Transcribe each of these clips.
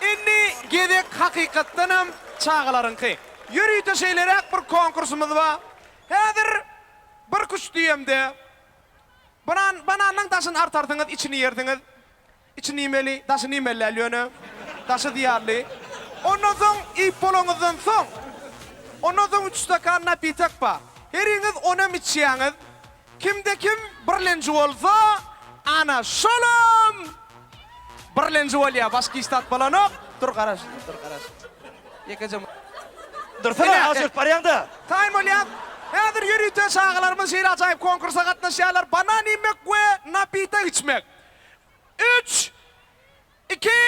Indi gezek hakykatdanam çagalaryňky. Ýörite şeýleräk bir konkursymyz bar. Häzir bir küştdüýemde. Banan, bananyň daşyny artarsyňyz, içini ýersiňiz. Içi nimeli, daşy nimeli däl ýöne. Daşy zyýanly. Ondan soň iýip bolanyňyzdan soň, ondan soň üç stakan napitek bar. Heriňiz onem içýäňiz. Kimde-kim birlenji bolsa, ana, şolam birlenji bolýar. Başga hiç zat bolanok. Dur, garaş, dur, garaş. Ýekeje. Dursana, az ýörüp barýaň-da. Taýyn bolýas. Häzir ýörite çagalarymyz şeýle ajaýyp konkursa gatnaşýarlar, banan iýmek we napitek içmek. Üç, iki,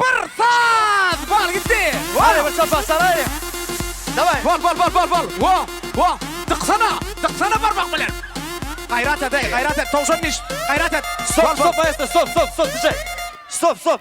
bir, saz! Bal gitdi! Hany bir çapak çalaýyň. Daway! Bol, bol, bol, bol, bol! Wo, wo! Dyksana! Dyksana barmak bilen! Gaýrat et-eý, gaýrat et, towşan diş! Gaýrat et! Stop, stop, maestro, stop, stop, stop, DJ! Stop, stop!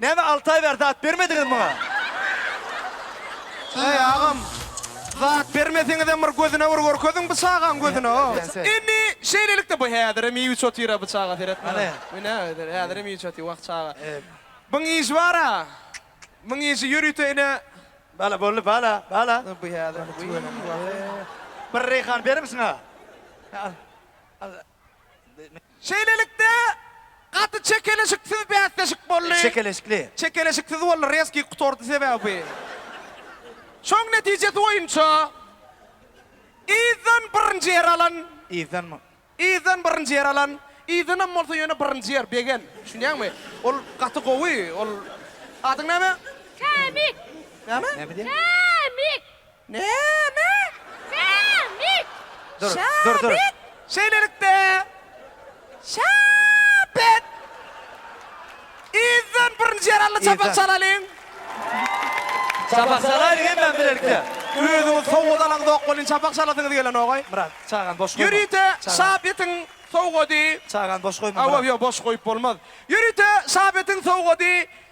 Näme alty aý bäri zat bermediňiz muňa? Heý agam, zat bermeseňizem bir gözüne bir görkeziň bu çagaň gözüne ho. Indi şeýlelikde bu häzirem iýip içip otyr-a bu çaga seret muňa. Bu ne özüni häzirem iýip içip otyr wah çaga. Muň iýşi bar-a. Muň iýşi ýörite ine. Bala boldy bala bala. Bu häzir. Bir reýhan berimsiň-a. Al. Al. Şeýlelikde, gaty çekeleşiksiz bäsleşik boldy. Çekeleşikli. Çekeleşiksiz boldy, rezki gutardy sebäbi. Şoň netijesi boýunça yzdan birinji ýer alan. Yzdanmy? Yzdan birinji ýer alan. Yzdanam bolsa ýöne birinji ýer, begen. Düşünýäňmi? Ol gaty gowy, ol. Adyň näme? Kämik. Näme? Näme diýýär? Kämik. Näme? Sämit! Dur, dur, dur. Şäbit! Şeýlelikde, Şäbit! Yzdan birinji ýaragly çapak Yzdan. çalalyň. Çapak çalaýyň hemmämiz bilelikde. Özüňiz sowgat alaňzok welin, çapak çalasyňyz gelenogaý. Myrat, çagany boş goýma. Ýörite Çagany- Şäbitiň sowgady. Çagany boş goýma, Myrat. Hawa, ýok, boş goýup bolmaz. Ýörite Şäbitiň sowgady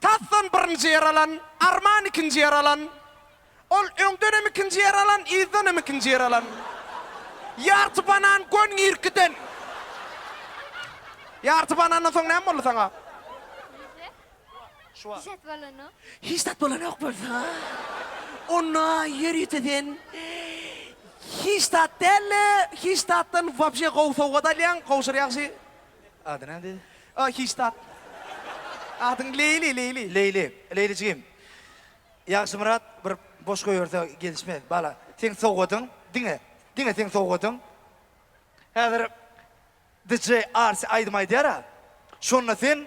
Tasdan birinji ýer alan Arman ikinji ýer alan. Ol öňdenem ikinji ýer alan, yzdanam ikinji ýer alan. Ýarty banan gön girkiden. Ýarty banandan soň näme boldy saňa? Hiç zat bolanok. Hiç zat bolanok bolsa, onda ýer ýüzünde sen hiç zat däl-de, hiç zatdan wapşe gowy sowgat alýaň, gowşur ýagşy. Ady nädi? Aa, hiç zat. Adyň Leýli, Leýli. Leýli. Leýli jigim. Ýagşymyrat bir boş goýberse gelişmez. Bala, seň sowgadyň, diňe, diňe seň sowgadyň. Häzir DJ Arsi aýdym aýdar-a. Şonda sen.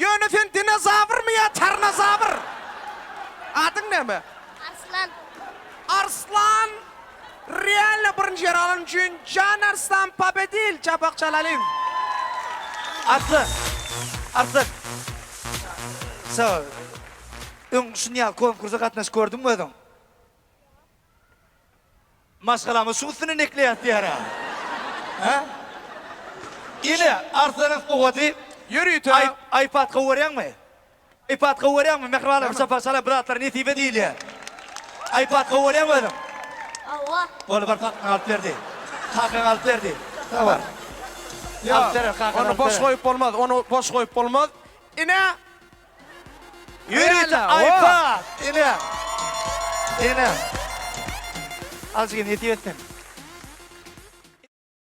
Ýöne sen dinozawrmy ýa tarnazawr? Adyň näme? Arslan. Arslan realno birinji ýeri alany üçin Jan Arslan pobedil çapak çalalyň. Arslan. Arslan. Sagbol. Öň şunýaly konkursa gatnaşyp gördüňmi özüň? Ýok. Maşgalaňyz şuň üstünden ekleýäs diýära. Hä? Ine, Arslanyň sowady. Ýörite. Aý, Aýpatga görýäňmi? Aýpatga görýäňmi? Mähribanlaryň şapasy çalar, bir zatlar nesibe diýilýär. Aýpatga görýäňmi özüň? Hawa. Bol, bar, kakaň alyp ber diý. Kakaň alyp ber diý. Bar. Ýok, ony boş goýup bolmaz, ony boş goýup bolmaz. Ine! Ýörite Aýpa! Ine! Ine! Azjygy nesip etsin.